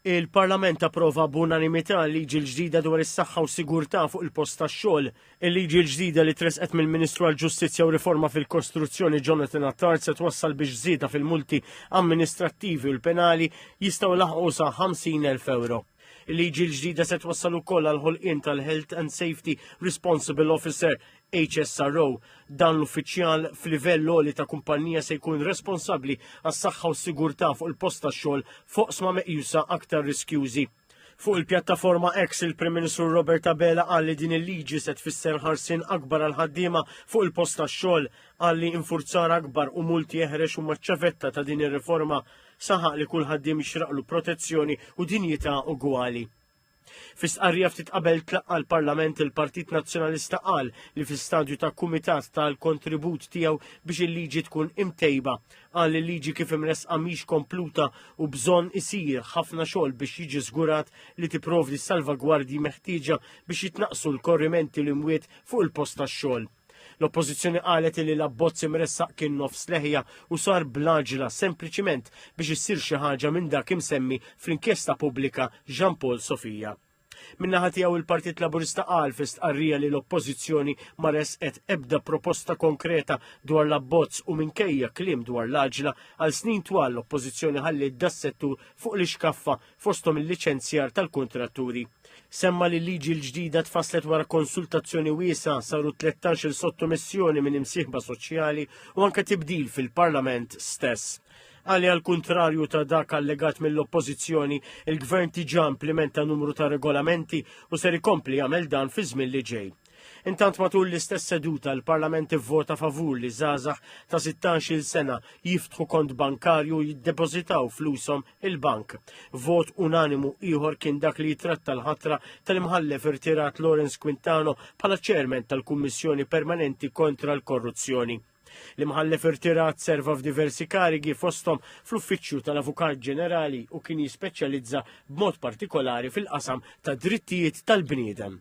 Il-Parlament approva b'unanimità l-liġi l-ġdida dwar is-saħħa u sigurtà fuq il-post tax-xogħol. Il-liġi l-ġdida li tresqet mill-Ministru għall-Ġustizzja u Riforma fil-Kostruzzjoni Jonathan Attard se twassal biex żieda fil-multi amministrattivi u l-penali jistgħu laħqu sa 50,000 euro. Il-liġi l-ġdida se twassal ukoll għal ħolqien tal-Health and Safety Responsible Officer, HSRO, dan l-uffiċjal f'livell għoli ta' kumpannija se jkun responsabbli għas-saħħa u s-sigurtà fuq il-post tax-xogħol f'oqsma meqjusa aktar riskjużi. Fuq il-pjattaforma X, il-Prim Ministru Robert Abela qal li din il-liġi se tfisser ħarsien akbar għall-ħaddiema fuq il-post tax-xogħol. Qal li infurzar akbar u multi eħrex huma ċ-ċavetta ta' din ir-riforma. Saħaq li kull ħaddiem jixraqlu protezzjoni u dinjità ugwali. Fi stqarrija ftit qabel tlaqqa l-Parlament il-Partit Nazzjonalista qal li fi stadju ta' kumitat tal-kontribut tiegħu biex il-liġi tkun imtejba. Qal il-liġi kif imresqa mhix kompluta u bżonn isir ħafna xogħol biex jiġi żgurat li tipprovdi salvagwardji meħtieġa biex jitnaqqsu l-korrimenti l-imwiet fuq il-post tax-xogħol. L-Oppożizzjoni qalet li l-abbozz imressaq kien nofs leħja u sar bl-għaġla sempliċiment biex issir xi ħaġa minn dak imsemmi fl-inkjesta pubblika Jean Paul Sofia. Min-naħa tiegħu il-Partit Laburista qal fi stqarrija li l-Oppożizzjoni ma resqet ebda proposta konkreta dwar l-abbozz u minkejja kliem dwar l-għaġla għal snin twal l-Oppożizzjoni ħalliet das-settur fuq l-ixkaffa fosthom il-liċenzjar tal-kuntratturi. Semma li l-liġi l-ġdida tfasslet wara konsultazzjoni wiesa saru 13 il sottomissjoni minn imsieħba soċjali u anke tibdil fil-Parlament stess. Għali għal kuntrarju ta' dak allegat mill-oppożizzjoni, il-gvern tiġa implementa numru ta' regolamenti u ser ikompli jagħmel dan fi żmien li ġej. Intant matul l-istess seduta l-Parlament ivvota favur li żgħażagħ ta' 16-il sena jiftħu kont bankarju jiddepożitaw flushom il-bank. Vot unanimu ieħor kien dak li jitratta l-ħatra tal-imħallef irtirat Lawrence Quintano bħala ċermen tal-Kummissjoni Permanenti kontra l-Korruzzjoni. L-imħallef irtirat serva f'diversi karigi fosthom fl-Uffiċċju tal-Avukat Ġenerali u kien jispeċjalizza b'mod partikolari fil-qasam ta' drittijiet tal-bniedem.